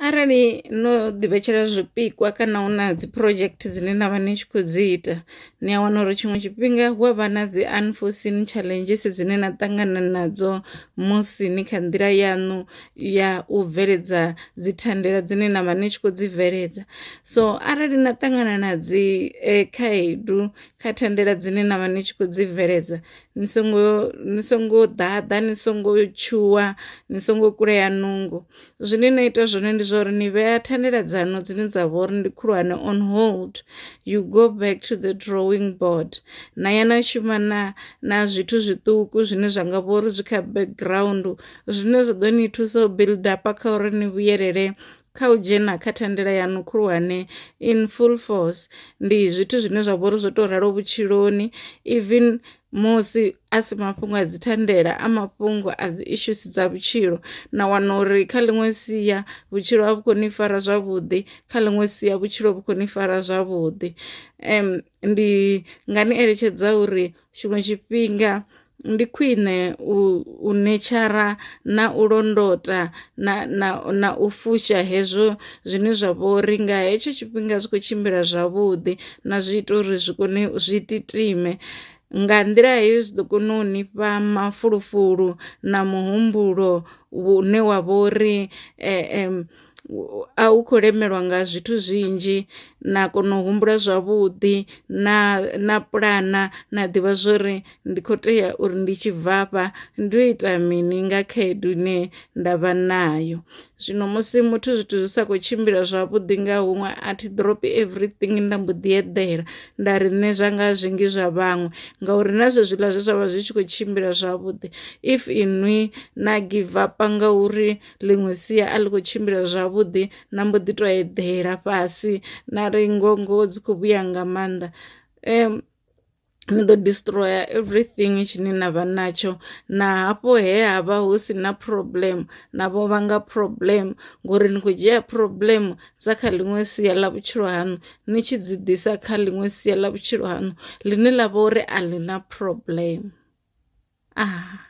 Arali no ḓi vhetshela zwipikwa kana hu na dzi project dzine na vha ni tshi khou dzi ita ni a wana uri tshiṅwe tshifhinga hu avha na dzi unforeseen challenges dzine na ṱangana nadzo musi ni kha nḓila yaṋu ya u bveledza dzi thandela dzine na vha ni tshi khou dzi bveledza. So arali na ṱangana na dzi khaedu kha thandela dzine na vha ni tshi khou dzi bveledza ni songo ni songo ḓaḓa ni songo tshuwa ni songo kulea nungo zwine na ita zwone ndi zwa uri ni vhea thandela dzanu dzine dza vha uri ndi khulwane on hold you go back to the drawing board na ya na shuma na na zwithu zwiṱuku zwine zwa nga vha uri zwi kha background zwine zwa ḓo ni thusa u build up kha uri ni vhuyelele kha u dzhena kha thandela yaṋu khulwane in full force ndi zwithu zwine zwa vhori zwo to ralo vhutshiloni even musi a si mafhungo a dzi thandela a mafhungo a dzi issues dza vhutshilo na wana uri kha ḽiṅwe sia vhutshilo a vhu koni fara zwavhuḓi kha ḽiṅwe sia vhutshilo vhu koni fara zwavhuḓi um ndi nga ni eletshedza uri tshiṅwe tshifhinga ndi khwine u u netshara na u londota na na na u fusha hezwo zwine zwa vha uri nga hetsho tshifhinga zwi khou tshimbila zwavhuḓi na zwi ita uri zwi kone zwi titima nga nḓila heyo zwi ḓo kona u nifha mafulufulu na muhumbulo une wa vha uri . a u kho lemelwa nga zwithu zwinzhi na kona u humbula zwavhuḓi na na puḽana na ḓivha zwori ndi kho tea uri ndi tshi bvafha ndi u ita mini nga khaedu ine nda vha nayo. Zwino musi muthu zwithu zwi sa kho tshimbila zwavhuḓi nga huṅwe a thi drop everything nda mbo ḓi eḓela nda ri nṋe zwa nga zwinzhi zwa vhaṅwe ngauri na zwezwiḽa zwe zwavha zwi tshi kho tshimbila zwavhuḓi if inwi na give up ngauri. ḽiṅwe sia a ḽi khou tshimbila zwavhuḓi na mbo ḓi to eḓela fhasi na ri ngongo dzi khou vhuya nga maanḓa um ni ḓo destroyer everything tshine na vha natsho na hafho he ha vha hu si na problem na vho vhanga problem ngori ni khou dzhia problem dza kha ḽiṅwe sia ḽa vhutshilo haṋu ni tshi dzi ḓisa kha ḽiṅwe sia ḽa vhutshilo haṋu ḽine ḽa vha uri a ḽi na problem ah.